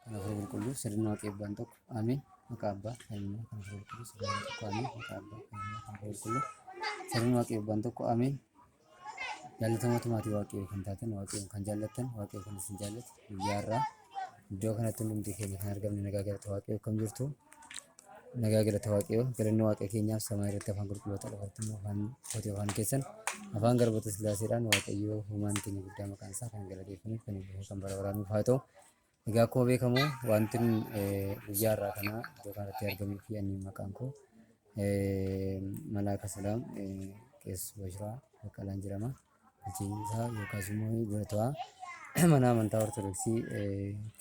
kan hafuura qulqulluu sirna waaqa eebbaan tokko ameen maqaa abbaa kan ilmaa kan hafuura qulqulluu sirna waaqa tokko ameen maqaa abbaa kan ilmaa kan hafuura qulqulluu sirna waaqa eebbaan tokko ameen jaallatamatu maatii waaqayyoo kan taatan waaqayyoon kan jaallattan waaqayyoo kan isin jaallatu guyyaa irraa iddoo kanatti hundumti keenya kan argamne nagaa galata waaqayyoo kam jirtu nagaa galata waaqayyoo galanni waaqa keenyaaf samaa irratti afaan qulqulloota dhabartuun afaan kooti afaan keessan afaan garboota sillaaseedhaan waaqayyoo humaan keenya guddaa maqaan isaa kan galateeffaniif kan eebbifamu kan bara baraanuuf haa ta'u Egaa akkuma beekamu wanti guyyaa irraa kanaa iddoo kanatti argamuu fi anniin maqaan koo Malaaka Salaam Qees Bashiraa Baqqalaan jedhama. Bulchiinsa yookaas immoo dura ta'aa mana amantaa Ortodoksii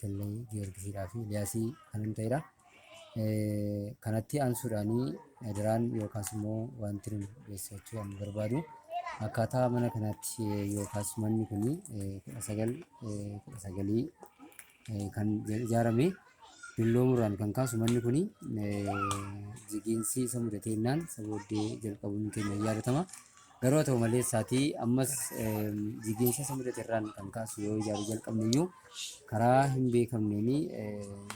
Kellee Giyoorgisiidhaa fi Liyaasii kanan ta'edha. Kanatti aansuudhaan adaraan yookaas immoo wanti nu beeksifachuu kan barbaadu akkaataa mana kanaatti yookaas manni kun kudha sagal kudha sagalii kan ijaarame dulloomuurraan kan kaasu manni kun jigiinsi isa mudateennaan isa booddee jalqabuun keenya yaadatama. Garuu haa ta'u malee saatii ammas jigiinsa isa mudate irraan kan kaasu yoo ijaaruu jalqabne iyyuu karaa hin beekamneen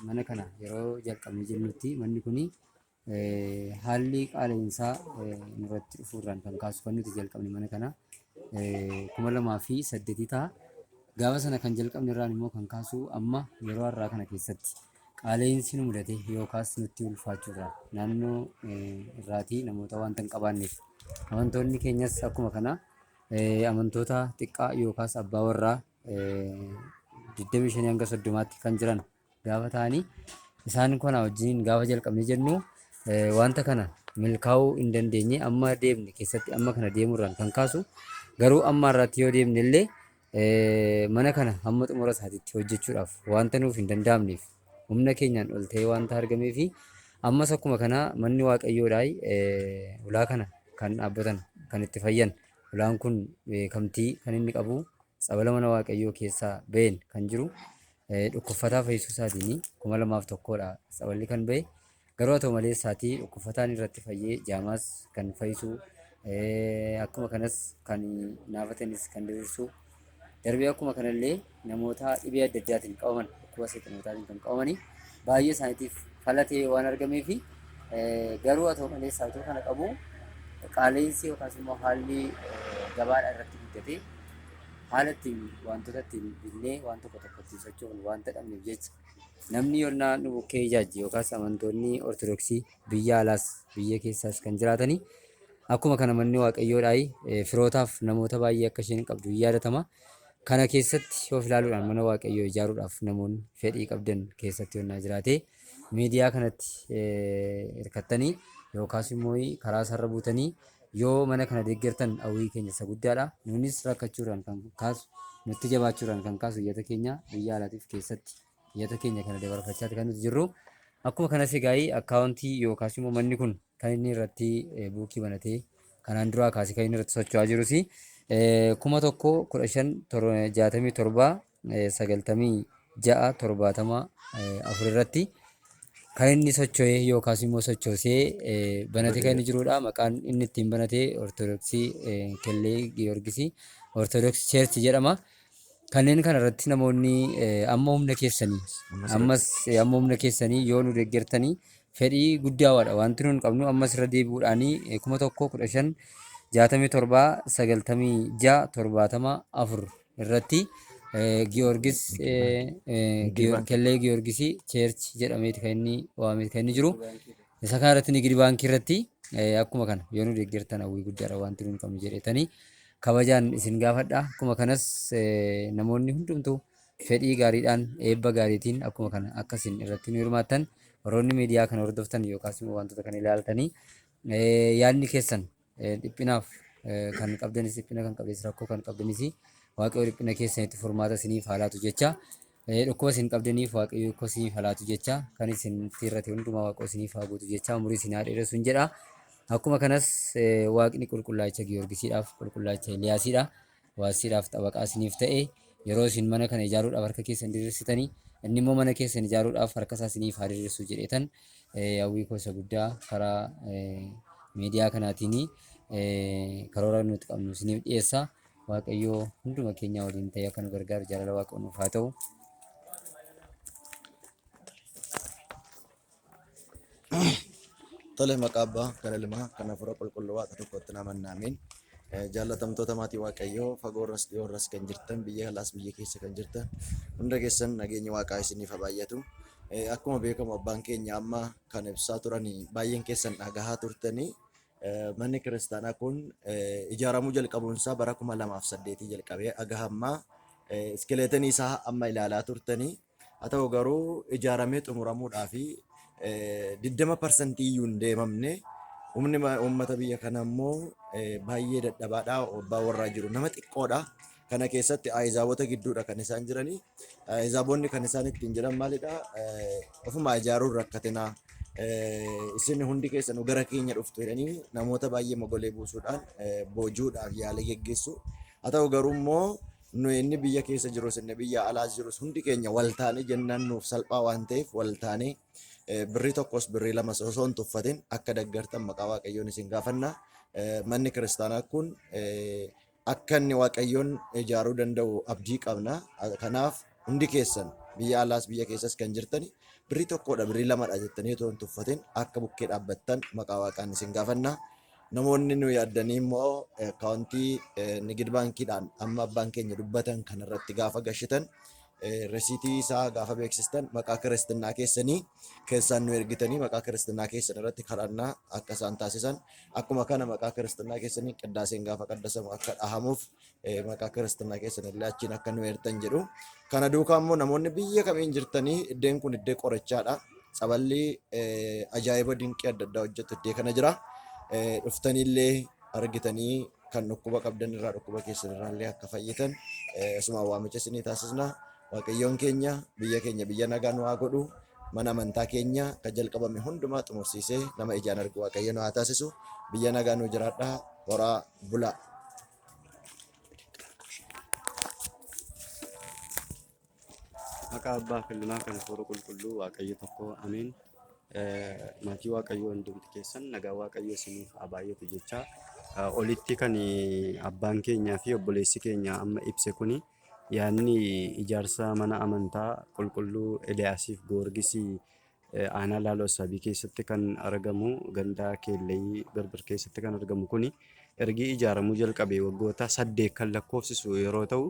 mana kana yeroo jalqabne jennutti manni kun haalli qaala'insaa nurratti dhufuu irraan kan kaasu kan nuti jalqabne mana kana kuma lamaa fi saddeetii ta'a. Gaafa sana kan jalqabne irraan immoo kan kaasu amma yeroo har'aa kana keessatti. qaala'iinsi nu mudate yookaas nutti ulfaachuu irraa naannoo irraatii namoota wanta hin qabaanneef amantoonni keenyas akkuma kana amantoota xiqqaa yookaas abbaa warraa 25 hanga 30tti kan jiran gaafa ta'anii isaan kana wajjin gaafa jalqabne jennu wanta kana milkaa'uu hin dandeenye amma deemne keessatti amma kana deemurraan kan kaasu garuu amma irratti yoo deemne illee Mana kana hamma xumura isaatiitti hojjechuudhaaf wanta nuuf hin danda'amneef humna keenyaan ol ta'ee wanta argameefi ammas akkuma kanaa manni Waaqayyoodhaay ulaa kana kan dhaabbatan kan itti fayyan ulaan kun beekamtii kan inni qabu tsabala mana Waaqayyoo keessaa ba'een kan jiru dhukkuffataa fayyisuu isaatiin kuma lamaaf tokkoodha tsaballi kan ba'e. Garuu haa ta'u malee saatii dhukkufataan irratti fayyee jaamaas kan fayyisu akkuma kanas kan naafatanis kan diriirsu darbee akkuma kanallee namoota dhibee adda addaatiin qabaman dhukkuba seexanootaatiin kan qabamanii baay'ee isaaniitiif falatee waan argamee fi garuu haa ta'u malee saayituu kana qabu qaala'insi yookaas immoo haalli gabaadhaa irratti guddatee haala ittiin wantoota ittiin binnee waan tokko tokko ittiin sochoofnu waan ta'amneef jecha Namni yonnaa nu bukkee ijaajje yookaas amantoonni Ortodoksii biyya alaas biyya keessaas kan jiraatanii akkuma kana manni Waaqayyoo dhaayi eh, firootaaf namoota baay'ee akka isheen qabdu hin yaadatama. Kana keessatti of ilaaluudhaan mana Waaqayyoo ijaaruudhaaf namoonni fedhii qabdan keessatti yonnaa jiraatee miidiyaa kanatti eh, hirkattanii yookaas immoo karaa sarara buutanii Yoo mana kana deeggartan hawwii keenya isa guddaadha. Nuunis rakkachuurraan kan kaasu nutti jabaachuurraan kan kaasu iyyata keenya biyya alaatiif keessatti iyyata keenya kana dabarfachaati kan nuti jirru. Akkuma kanas egaa akkaawuntii yookaas immoo manni kun kan inni irratti eh, buukii banatee kanaan duraa kaasee kan inni irratti socho'aa jirus eh, kuma tokko kudha shan tor- jaatamii torba 96, 70, 4 irratti kan inni socho'ee yookaas immoo sochoosee banatee kan inni jirudha. Maqaan inni ittiin banate Ortodoksii Kellee Giyoorgisii Ortodoksii Cheerchi jedhama. Kanneen kana irratti namoonni amma humna keessanii ammas amma humna keessanii yoo nu deeggartanii fedhii guddaa waadha wanti nuun qabnu ammas irra deebi'uudhaanii kuma tokko kudha shan jaatamii torbaa sagaltamii ja'a torbaatama afur irratti Giyoorgis Kellee Giyoorgisii Cheerchi jedhameeti kan inni waameeti kan inni jiru. Isa kana irratti Nigidi Baankii irratti akkuma kana yoo nu deeggartan hawwii guddaadha wanti nuun qabnu jedhetanii kabajaan isin gaafadha. Akkuma kanas namoonni hundumtuu fedhii gaariidhaan eebba gaariitiin akkuma kana akka isin irratti nu hirmaattan warroonni miidiyaa kana hordoftan yookaas immoo wantoota kana ilaaltanii yaadni keessan Dhiphinaaf kan qabdanis dhiphina kan qabdes rakkoo kan qabdanis waaqayyo dhiphina keessanitti furmaata isiniif haalaatu jecha dhukkuba isin qabdaniif waaqayyo akka isiniif haalaatu jecha kan isin irratti hundumaa waaqoo isiniif haa guutu jecha umurii isin haa dheeressu hin jedha. Akkuma kanas waaqni qulqullaacha Giyoorgisiidhaaf qulqullaacha Eliyaasiidha. Waasiidhaaf xabaqaa isiniif ta'e, yeroo isin mana kana ijaaruudhaaf harka keessan diriirsitanii, inni immoo mana keessan ijaaruudhaaf harka isaa isiniif haa diriirsu jedheetan hawwii koo isa guddaa karaa miidiyaa kanaatiin karoora nuti qabnu isiniif dhiyeessa. Waaqayyoo hunduma keenyaa waliin ta'ee akka nu gargaaru jaalala Waaqayyoo nuuf haa ta'u. Tole maqaa abbaa kan ilmaa kan hafuura qulqulluu waaqa tokkotti nama naameen jaallatamtoota maatii waaqayyoo fagoorras dhiyoorras kan jirtan biyya alaas biyya keessa kan jirtan hunda keessan nageenyi waaqaa isiniif haa baay'atu. Eh, Akkuma beekamu abbaan keenya amma kan ibsaa turanii baay'een keessan dhagahaa turtanii eh, manni kiristaanaa kun eh, ijaaramuu jalqabuun isaa bara kuma lamaaf saddeetii jalqabee aga hammaa eh, iskileetanii isaa amma ilaalaa turtanii Haa ta'u garuu ijaaramee xumuramuudhaaf 20% iyyuu hin deemamne. Humni uummata biyya kanaa immoo baay'ee dadhabaadha. Abbaa warraa jiru nama xiqqoodha. Kana keessatti ahizaabota gidduudha kan isaan jiranii. Ahizaabonni kan isaan ittiin jiran maalidha? Ofuma ijaaruun rakkatina. Isin hundi keessanuu gara keenya dhuftu jedhanii namoota baay'ee mogolee buusuudhaan boojuudhaaf yaalii geggeessu. Haa ta'u garuu immoo Nuyi inni biyya keessa jirus inni biyya alaas jirus hundi keenya wal taanee jennaan nuuf salphaa waan ta'eef wal taanee eh, birrii tokkos birrii lamas osoo hin tuffatin akka deggartan maqaa waaqayyoon isin gaafanna. Eh, Manni kiristaanaa kun eh, akka inni waaqayyoon ijaaruu danda'u abdii qabna. Ah, Kanaaf hundi keessan biyya alaas biyya keessas kan jirtani birrii tokkodha birrii lamadha jettanii otoo hin tuffatin akka bukkee dhaabbattan maqaa waaqaan isin gaafanna. Namoonni nu yaaddanii immoo akkaawuntii Nigid Baankiidhaan amma abbaan keenya dubbatan kanarratti gaafa gashitan resiitii isaa gaafa beeksistan maqaa kiristinnaa keessanii keessaan nu ergitanii maqaa kiristinnaa keessan irratti kadhannaa akka isaan taasisan akkuma kana maqaa kiristinnaa keessanii qiddaaseen gaafa qaddasamu akka dhahamuuf maqaa kiristinnaa keessan illee achiin akka nu eertan jedhu. Kana duukaa immoo namoonni biyya kamiin jirtanii iddeen kun iddee qorichaadha. Tsaballi ajaa'iba dinqii adda addaa hojjetu iddee kana jira. Dhuftaniillee argitanii kan dhukkuba qabdan irraa dhukkuba keessan irraa illee akka fayyitan isuma waamicha isinii taasisna. Waaqayyoon keenya biyya keenya biyya nagaa nu haa godhu. Mana amantaa keenya kan jalqabame hundumaa xumursiisee nama ijaan argu Waaqayyo nu haa taasisu. Biyya nagaa nu jiraadhaa horaa bulaa. Maqaa abbaa fi ilmaa kan hafuura qulqulluu waaqayyo tokko ameen. Maatii waaqayyoo hundumti keessan nagaa waaqayyo isiniif haa baay'atu jechaa olitti kan abbaan keenyaa fi obboleessi keenya amma ibse kuni yaadni ijaarsa mana amantaa qulqulluu Eliyaasiif Goorgisii Aanaa Laaloo Assaabii keessatti kan argamu ganda Keellayii Birbir keessatti kan argamu kuni ergi ijaaramuu jalqabee waggoota saddeet kan lakkoofsisu yeroo ta'u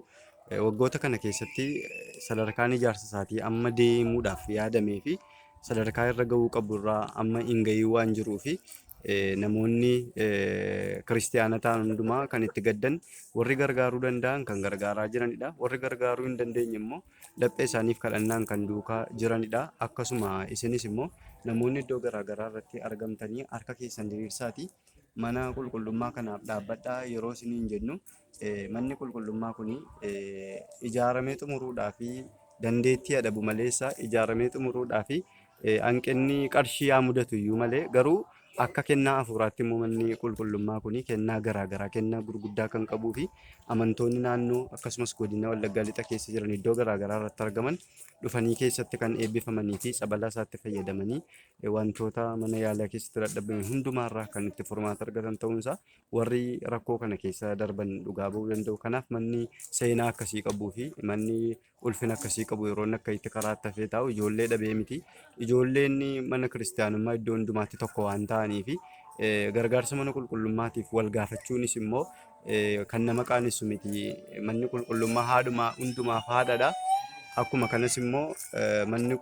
waggoota kana keessatti sadarkaan ijaarsa isaatii amma deemuudhaaf yaadamee fi sadarkaa irra ga'uu qabu irraa amma hin ga'ii waan jiruu fi namoonni kiristiyaana ta'an hundumaa kan itti gaddan warri gargaaruu danda'an kan gargaaraa jiranidha. Warri gargaaruu hin dandeenye immoo laphee isaaniif kadhannaan kan duukaa jiranidha. Akkasuma isinis immoo namoonni iddoo garaa garaa irratti argamtanii harka keessan diriirsaati mana qulqullummaa kanaaf dhaabbadhaa yeroo isiniin jennu eh, manni qulqullummaa kun eh, ijaaramee xumuruudhaa fi dandeettii adabu maleessa ijaaramee xumuruudhaa fi Hanqinni qarshii haa mudatu iyyuu malee garuu akka kennaa hafuuraatti immoo manni qulqullummaa kun kennaa garaa garaa kennaa gurguddaa kan qabuu fi amantoonni naannoo akkasumas godina Wallaggaa lixa keessa jiran iddoo garaa garaa irratti argaman dhufanii keessatti kan eebbifamanii fi tsabalaa isaatti fayyadamanii wantoota mana yaalaa keessatti dadhabame hundumaa irraa kan itti furmaata argatan ta'uun isaa warri rakkoo kana keessa darban dhugaa ba'uu danda'u. Kanaaf manni seenaa akkasii qabuu fi manni ulfina akkasii qabu yeroo inni akka itti karaatti hafee taa'u ijoollee dhabee miti. Ijoolleen mana kiristaanummaa iddoo hundumaatti tokko waan ta'aniif gargaarsa mana qulqullummaatiif wal gaafachuunis immoo kan nama qaanessu miti. Manni qulqullummaa haadhumaa hundumaaf haadhadha. Akkuma kanas immoo manni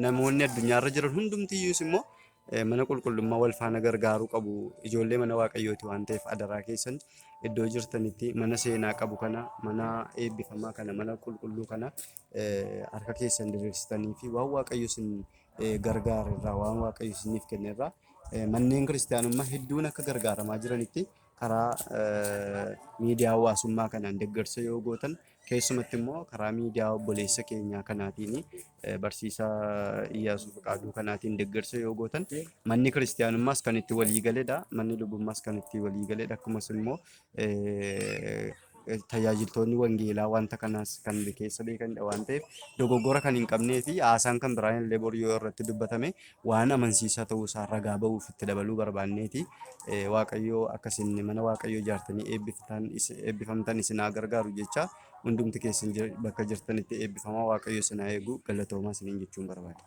namoonni addunyaarra jiran hundumtiyyuus immoo mana qulqullummaa wal faana gargaaruu qabu. Ijoollee mana waaqayyooti waan ta'eef adaraa keessan iddoo jirtanitti mana seenaa qabu kana, mana eebbifamaa kana, mana qulqulluu kana eh, harka keessan diriirsitanii fi waan waaqayyo isin eh, gargaare irraa, waan waaqayyo isiniif kenne irraa eh, manneen kiristaanummaa hedduun akka gargaaramaa jiranitti karaa eh, miidiyaa hawaasummaa kanaan deeggarsa yoo gootan Keessumatti immoo karaa miidiyaa obboleessa keenyaa kanaatiin barsiisaa Iyyaasuu Fiqaaduu kanaatiin deeggarsa yoo gootan manni kiristiyaanummaas kan itti walii galedha. Manni lubummaas kan itti walii galedha. Akkasumas immoo tajaajiltoonni wangeelaa wanta kanaas kan keessa beekanidha waan ta'eef dogoggora kan hin qabnee fi haasaan kan biraan illee boru yoo irratti dubbatame waan amansiisaa ta'uu isaa ragaa ba'uuf itti dabaluu barbaanneeti. Waaqayyoo akka isin mana Waaqayyoo ijaartanii eebbiftan eebbifamtan isin haa gargaaru jecha hundumti keessan jir- bakka jirtanitti eebbifamaa Waaqayyo isin haa eegu galatoomaa isiniin jechuun barbaada.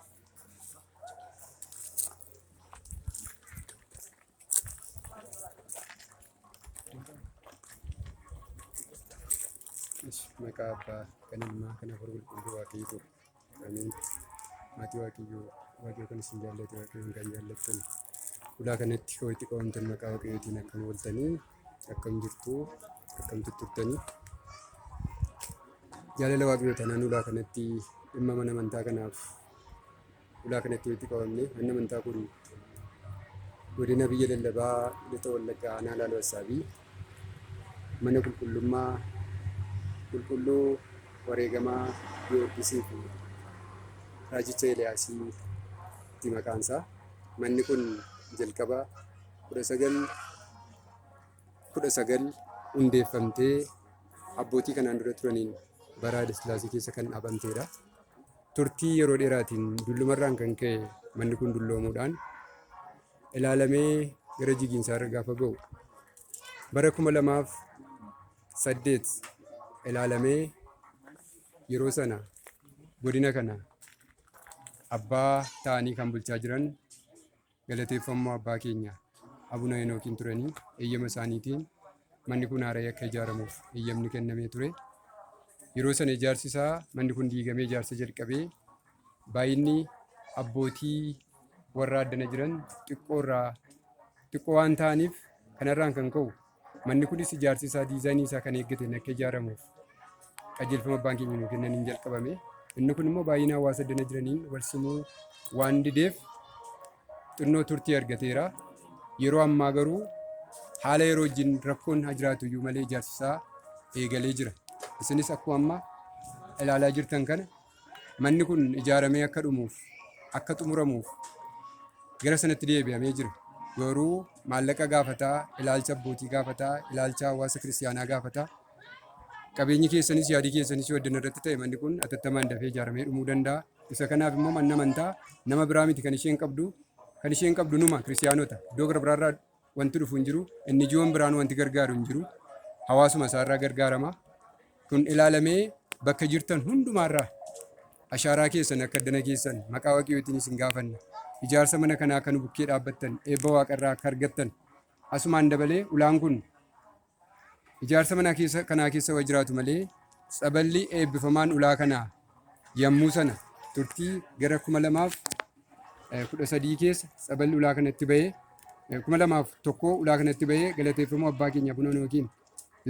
Maqaa abbaa kan ilmaa kan hafuura qulqulluu waaqayyoo Amiin. Maatii Waaqayyoo Waaqayyoo kan isin jaallatu Waaqayyoon kan jaallattan ulaa kanatti kan walitti qabamtan maqaa Waaqayyootiin akkam ooltanii akkam jirtu akkam tutturtanii jaalala Waaqayyoo tanaan ulaa kanatti dhimma mana amantaa kanaaf ulaa kanatti walitti qabamne manni amantaa kun godina biyya lallabaa lixa wallaggaa aanaa laaloo assaabii mana qulqullummaa qulqulluu wareegamaa Giyoorgisii fi raajicha Eeliyaasii ti maqaan isaa. Manni kun jalqaba 1919 hundeeffamtee abbootii kanaan dura turaniin bara Haayile Sillaasee keessa kan dhaabamteedha. Turtii yeroo dheeraatiin dullumarraan kan ka'e manni kun dulloomuudhaan ilaalamee gara jigiinsaarra gaafa ga'u bara kuma lamaaf saddeet ilaalamee yeroo sana godina kana abbaa ta'anii kan bulchaa jiran galateeffamuu abbaa keenya abuna henookiin turanii eeyyama isaaniitiin manni kun haara'ee akka ijaaramuuf eeyyamni kennamee ture yeroo sana ijaarsi isaa manni kun diigamee ijaarsa jalqabee baay'inni abbootii warraa addana jiran xiqqoo irraa xiqqoo waan ta'aniif kanarraan kan ka'u manni kunis ijaarsi isaa diizaayinii isaa kan eeggateen akka ijaaramuuf qajeelfama abbaan keenya nuu kennaniin jalqabame. Inni kun immoo baay'ina hawaasa addana jiraniin wal simuu waan dideef xinnoo turtii argateera. Yeroo ammaa garuu haala yeroo wajjin rakkoon haa jiraatu iyyuu malee ijaarsi isaa eegalee jira. Isinis akkuma amma ilaalaa jirtan kana Manni kun ijaaramee akka dhumuuf, akka xumuramuuf gara sanatti deebi'amee jira. Garuu maallaqa gaafataa, ilaalcha abbootii gaafataa, ilaalcha hawaasa kiristiyaanaa gaafataa. Qabeenyi keessanis yaadii keessanis yoo addan irratti ta'e manni kun atattamaan dafee ijaaramee dhumuu danda'a. Isa kanaaf immoo manni amantaa nama biraa miti kan isheen qabdu. Kan isheen qabdu numa kiristiyaanota. Iddoo gara biraarraa Wanti dhufu hin jiru. NGO'n biraan wanti gargaaru hin jiru. Hawaasuma isaarraa gargaarama. Kun ilaalamee bakka jirtan hundumaarraa ashaaraa keessan akka addana keessan maqaa waaqayyootiin isin gaafanna. Ijaarsa mana kanaa akka nu bukkee dhaabbattan eebba waaqarraa akka argattan asumaan dabalee ulaan kun Ijaarsa mana keessa, kanaa keessa wa jiraatu malee tsaballi eebbifamaan ulaa kanaa yammuu sana turtii gara 2013 keessa tsaballi ulaa kanatti ba'ee eh, 2001 ulaa kanatti ba'ee galateeffamuu abbaa keenya Abuna Noogiin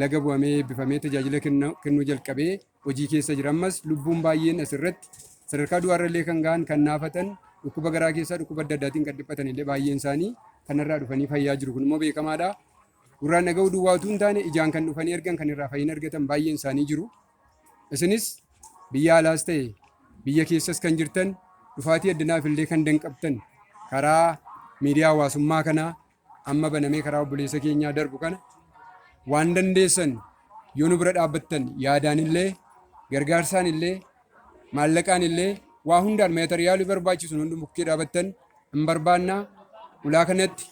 laga bu'amee eebbifamee tajaajila kenna- kennuu jalqabee hojii keessa jira. Ammas lubbuun baay'een asirratti sadarkaa du'aarrallee kan ga'an kan naafatan dhukkuba garaa keessaa dhukkuba adda addaatiin kan dhiphatan illee baay'een isaanii kanarraa dhufanii fayyaa jiru. Kun immoo beekamaadha. Gurraan dhaga'uu duwwaa utuu hin taane ijaan kan dhufanii argan kan irraa fayyina argatan baay'een isaanii jiru. Isinis biyya alaas ta'e biyya keessas kan jirtan dhufaatii addanaaf illee kan danqabtan karaa miidiyaa hawaasummaa kanaa amma banamee karaa obboleessa keenyaa darbu kana waan dandeessan yoo nu bira dhaabbattan yaadaan illee gargaarsaan illee maallaqaan illee waa hundaan meetariyaalii barbaachisu hundi bukkee dhaabattan hin barbaannaa ulaa kanatti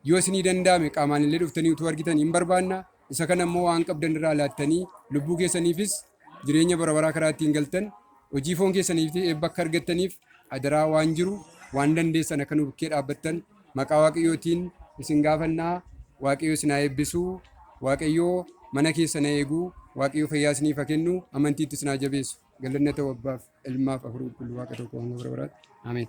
Yoo isinii danda'ame qaamaan illee dhuftanii utuu argitan in barbaanna, isa kana immoo waan qabdan irraa laattanii lubbuu keessaniifis jireenya bara baraa karaa ittiin galtan, hojii foon keessaniifis eebba akka argattaniif adaraa waan jiru waan dandeessan akka nu bukkee dhaabbattan maqaa Waaqayyootiin isin gaafanna, Waaqayyo isin haa eebbisu, Waaqayyo mana keessan haa eegu, Waaqayyo fayyaa isiniif haa kennu, amantiitti isin haa jabeessu. Galanni haa ta'u Abbaaf, Ilmaaf, Hafuura Qulqulluu Waaqa tokko hanga bara baraatti. Ameen.